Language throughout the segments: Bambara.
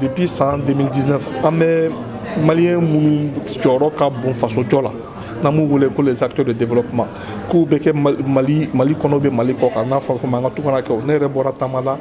depuis san 2019 an bɛ maliyɛn minnu jɔyɔrɔ ka bon fasojɔ la n'an b'u wele ko les acteurs de développement k'u bɛ kɛ mali mali kɔnɔ bɛ mali kɔkan n'a fɔra ko an ka tungarankɛw ne yɛrɛ bɔra taama la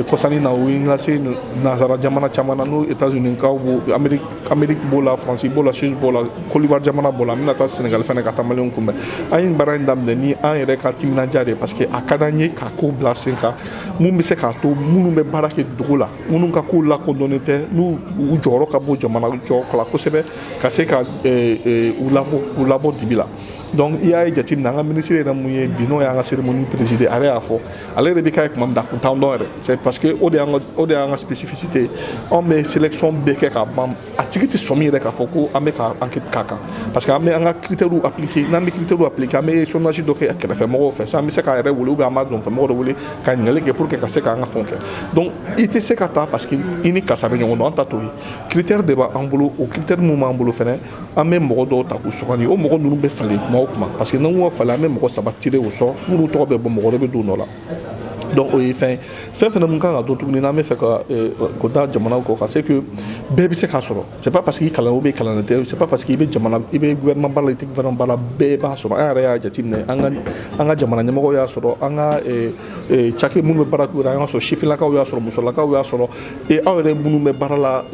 kɔsa in na o ye n lase nansara jamana caman na n'o états-unis kaw b'o amérique amérique b'o la faransi b'o la suisse b'o la côte d'ivoire jamana b'o la n bɛna taa sénégal fɛnɛ ka taa maliyɛnw kunbɛn an ye baara in daminɛ ni an yɛrɛ ka timinanja de ye parce que a ka d'an ye ka ko bila sen kan mun bɛ se k'a to minnu bɛ baara kɛ dugu la minnu ka ko lakodɔnnen tɛ n'u u jɔyɔrɔ ka bon jamana jɔ la kosɛbɛ ka se ka eh, eh, u labɔ u labɔ dibi la donc i y'a ye jateminɛ an ka minisiri yɛrɛ mun ye bi n'o y'an ka cérémonie présider a yɛrɛ y'a fɔ ale yɛrɛ bɛ k'a ye kuma min na a kun t'an dɔn yɛrɛ c'est parce que o de y'an ka o de y'an ka spécificité ye anw bɛ sélection bɛɛ kɛ ka ban a tigi tɛ sɔmi yɛrɛ k'a fɔ ko an bɛ ka enquête k'a kan parce que an bɛ an ka critères appliquer n'an bɛ critères appliquer an bɛ sondage dɔ kɛ kɛrɛfɛ mɔgɔw fɛ sisan an bɛ se k'a yɛrɛ wele ou bien an b'a dafɛ mɔgɔ dɔ wele ka ɲininkali kɛ pour que ka se k'an ka fɛnw kɛ donc i tɛ se ka taa parce que i ni karisa bɛ ɲɔgɔn dɔn an ta t'o ye critères de b'an bolo o critères minnu b'an bolo fɛnɛ an bɛ mɔgɔ dɔw ta k'u sugandi o mɔgɔ ninnu bɛ falen kuma o kuma parce que n'an ko falen an bɛ mɔgɔ saba tirer au sort minnu tɔgɔ bɛ bɔ mɔgɔ dɔ bɛ don o nɔ la donc o ye fɛn fɛn fana mun kan ka dɔn tuguni n'an bɛ fɛ ka eh, ko da jamanaw kɔ ka c'est que bɛɛ bɛ se k'a sɔrɔ c'est pas parce que i kalan ou bien kalannen tɛ c'est pas parce que i bɛ jamana i bɛ gouvernement baara la i tɛ gouvernement baara bɛɛ b'a sɔrɔ an yɛrɛ y'a jateminɛ an ka an ka jamana ɲɛmɔgɔw y'a sɔrɔ an ka eh, eh, cakɛ minnu bɛ baara k'u yɛrɛ an y'a sɔrɔ sifinlakaw y'a sɔrɔ musolakaw y'a sɔrɔ Et aw yɛrɛ minnu bɛ baara la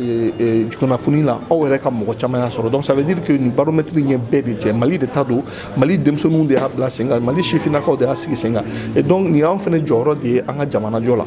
kunnafoni la aw yɛrɛ ka mɔgɔ caman y'a sɔrɔ donc ça veut dire que nin baromètre ye bɛɛ de cɛ Mali de ta don Mali denmisɛnninw de y'a bila sen kan Mali sifinnakaw de y'a sigi sen kan et donc nin y'anw fɛnɛ jɔyɔrɔ de ye an ka jamanajɔ la